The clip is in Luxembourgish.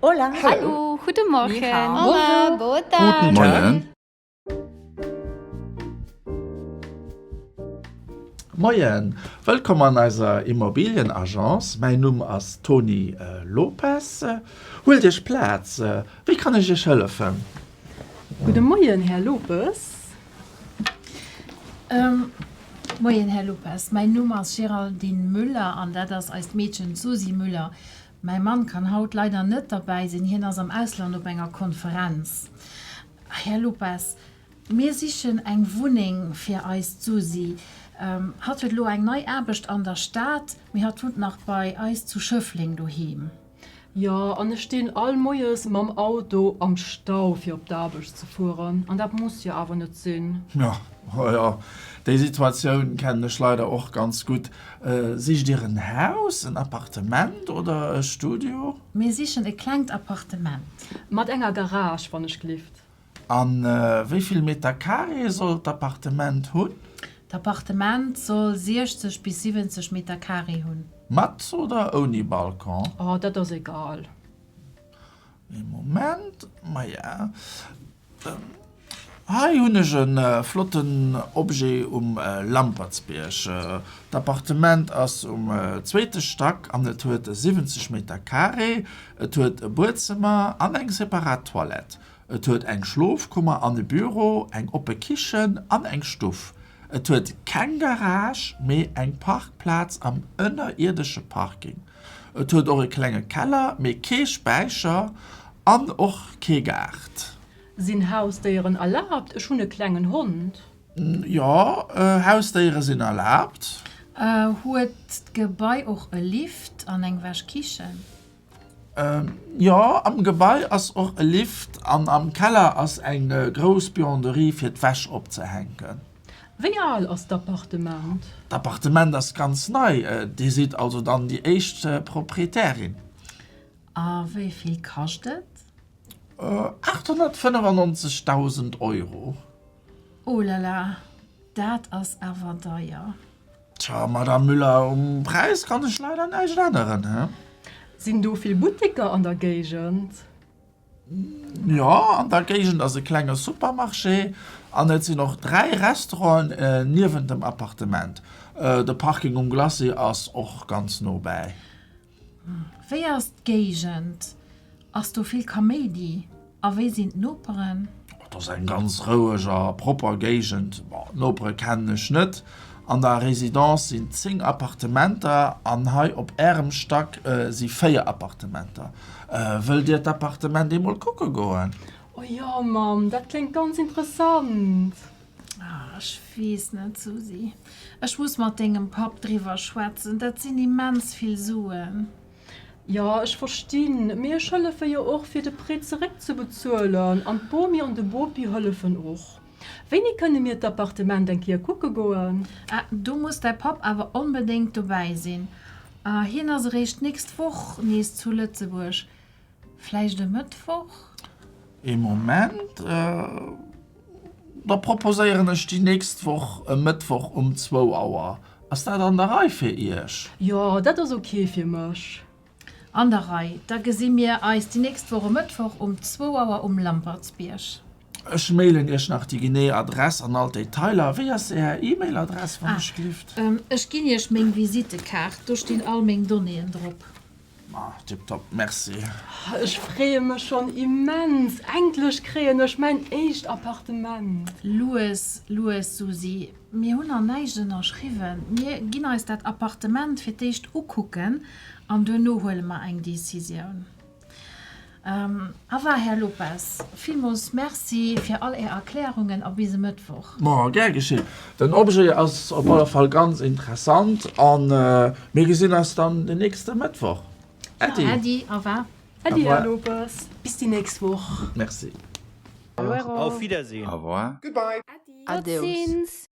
Hola. Hallo. Guten Morgen. Ni hao. Hola. Boa tarde. Guten Moien. Moien. Wëllkomm an eiser Immobilienagence. Mäin Numm ass Toni Lopes. Huelt Iech Plaz. Wéi kann ech Iech hëllefen? Gudde Moien, Här Lopes. Moien, Här Lopes. Mäin Numm ass Géraldine Müller an dat ass eist Meedchen Susy Müller. Mäi Mann kann haut leider net derbäi sinn, hien ass am Ausland op enger Konferenz. Här Lopes, mir sichen eng Wunneng fir eis d'Susi. Hatt huet elo eng nei Aarbecht an der Stad, mee hatt wunnt nach bei eis zu Schëffleng doheem. Jo, an ech stinn all Moies mam Auto am Stau fir op d'Aarbecht ze fueren, an dat muss jo awer net sinn. Jo, jo, déi Situatioun kennen ech leider och ganz gutt. Sicht Dir en Haus, en Appartement oder e Studio? Mir sichen e klengt Appartement. Mat enger Garage, wann ech gelift. A wéi vill Meter Carré soll d'Appartement hunn? D'Appartement soll 60 bis 70 Meter Carré hunn. Mat oder ouni Balcon? Oh, dat ass egal. Ee Moment, maja. Hei hun ech en flotten Objet um Lampertsbierg. D'Appartement ass um zweete Stack an et huet 70 Meter Carré. Et huet e Buedzëmmer an eng separat Toilette. Et huet eng Schlofkummer an e Büro, eng oppe Kichen an eng Stuff. Et huet keng Garage, mee eng Parkplaz am ënnerierdesche Parking. Et huet och e klenge Keller, mee kee Späicher an och kee Gaart. Sinn Hausdéieren erlaabt? Ech hunn e klengen Hond. Jo, Hausdéiere sinn erlaabt. Huet d'Gebai och e Lift an eng Wäschkichen? Jo, am Gebai ass och e Lift an am Keller ass eng grouss Buanderie fir d'Wäsch opzehänken. Wéi al ass d'Appartement? D'Appartement ass ganz nei. Dir sidd also dann déi éischt Proprietärin. A wéi vill kascht et? 895.000 Euro. Oh la la, dat ass awer deier. Tja, Madame Müller, um Präis kann ech leider näischt änneren. Sinn do vill Butteker an der Géigend? Jo, an der Géigend ass e klenge Supermarché an et sinn och dräi Restauranten niewent dem Appartement. De Parking um Glacis ass och ganz nobäi. Wéi ass d'Géigend? Ass do vill Kaméidi a wéi sinn d'Noperen? Dat ass eng ganz roueg a propper Géigend. D'Nopere kennen ech net. An der Residence sinn 10 Appartementer an hei op Ärem Stack si 4 Appartementer. Wëllt Dir d'Appartement eemol kucke goen? O jo, Mamm, dat kléngt ganz interessant! Ah, ech weess net, Susi. Ech muss mat dengem Papp driwwer schwätzen. Dat sinn immens vill Suen. Jo, ech verstinn. Mee ech hëllefe jo och, fir de Prêt zeréckzebezuelen. An d'Bomi an de Bopi hëllefen och. Wéini kënne mir d'Appartement eng Kéier kucke goen? Ah, do muss däi Papp awer onbedéngt dobäi sinn. Hien ass eréischt d'nächst Woch nees zu Lëtzebuerg. Vläicht e Mëttwoch? Ee Moment, da proposéieren ech déi nächst Woch e Mëttwoch um zwou Auer. Ass dat an der Rei fir Iech? Jo, dat ass ok fir mech. An der Rei. Da gesi mir eis déi nächst Woch e Mëttwoch um zwou Auer um Lampertsbierg. Ech mailen iech nach déi genee Adress an all d'Detailer. Wéi ass är E-Mail-Adress, wann ech dierft? Ah, ech ginn iech meng Visittekaart. Do stinn all meng Donnéeën drop. Ma, tiptop. Merci. Ech freeë mech schonn immens. Endlech kréien ech mäin éischt Appartement. Lues, lues, Susi. Mir hunn nach näischt ënnerschriwwen. Mir ginn eis dat Appartement fir d'éischt ukucken an duerno huele mer eng Decisioun. Au revoir, Här Lopes. Villmools Merci fir all Är Erklärungen a bis e Mëttwoch. Ma, gär geschéen. Den Objet ass op alle Fall ganz interessant a mir gesinn eis dann den nächste Mëttwoch. Äddi. Ja, äddi. Au revoir. Äddi, Här Lopes. Bis déi nächst Woch. Merci. Au revoir. Auf Wiedersehen. Au revoir. Goodbye. Äddi. Adeus.